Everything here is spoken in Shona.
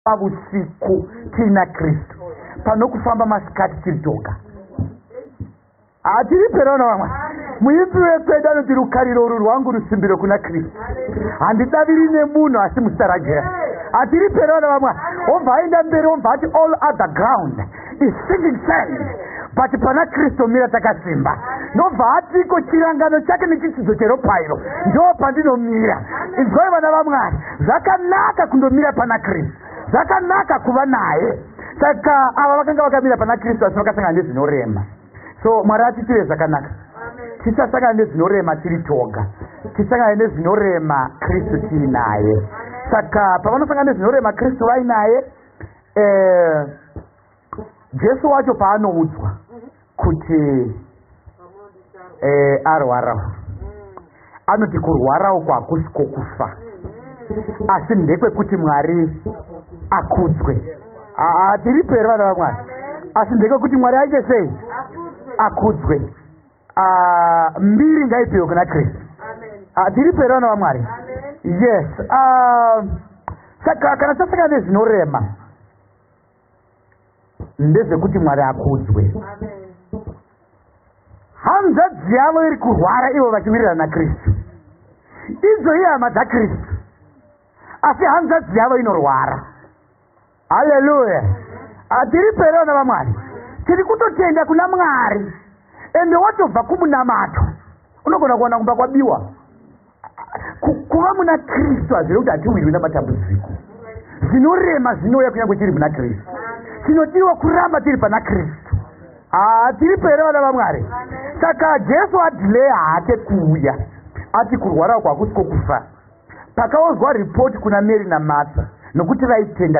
pavusiku tiina kristu pano kufamba masikati tiri toga hatiri perona vamwe muipi wekwedu anoti rukariro uru rwangu rusimbiro kuna kristu handidaviri nemunhu asi musarajera hatiri perona vamwe obva aenda mberi obva ati all other ground is sinking sand but pana kristu mira takasimba ndobva hatiko chirangano chake nechitsidzo cheropa iro ndo pandinomira inzwai vana vamwari zvakanaka kundomira pana kristu zvakanaka kuva naye saka ava vakanga vakamira pana kristu asi vakasangana nezvinorema so mwari atiitire zvakanaka tisasangana nezvinorema tiri toga tisangane nezvinorema kristu tiinaye saka pavanosangana nezvinorema kristu vainaye eh, jesu wacho paanoudzwa kuti eh, arwarawo anoti kurwara uko hakusi kwokufa asi ndekwekuti mwari akudzwe hatiripo here vana vamwari asi ndekwekuti mwari aite sei akudzwe uh, mbiri ngaipiwe kuna kristu uh, ah, tiripo here vana vamwari yes uh, saka kana tasaka nezvinorema ndezvekuti mwari akudzwe hanzvadzi yavo iri kurwara ivo vachiwirirana kristu idzo ihama dzakristu asi hanzvadzi yavo inorwara haleluya hatiri pere vana vamwari tiri kutotenda kuna mwari ende watobva kumunamato unogona kuwana kumba kwabiwa kuva muna kristu hazvire kuti hatiwirwi namatambudziko zvinorema zvinouya kunyangwe tiri muna kristu tinodiwa kuramba tiri pana kristu haa tiri pere vana vamwari saka jesu adiley haake kuuya ati kurwara uko hakusi kwokufa pakaonzwa ripoti kuna mary namatha nokuti vaitenda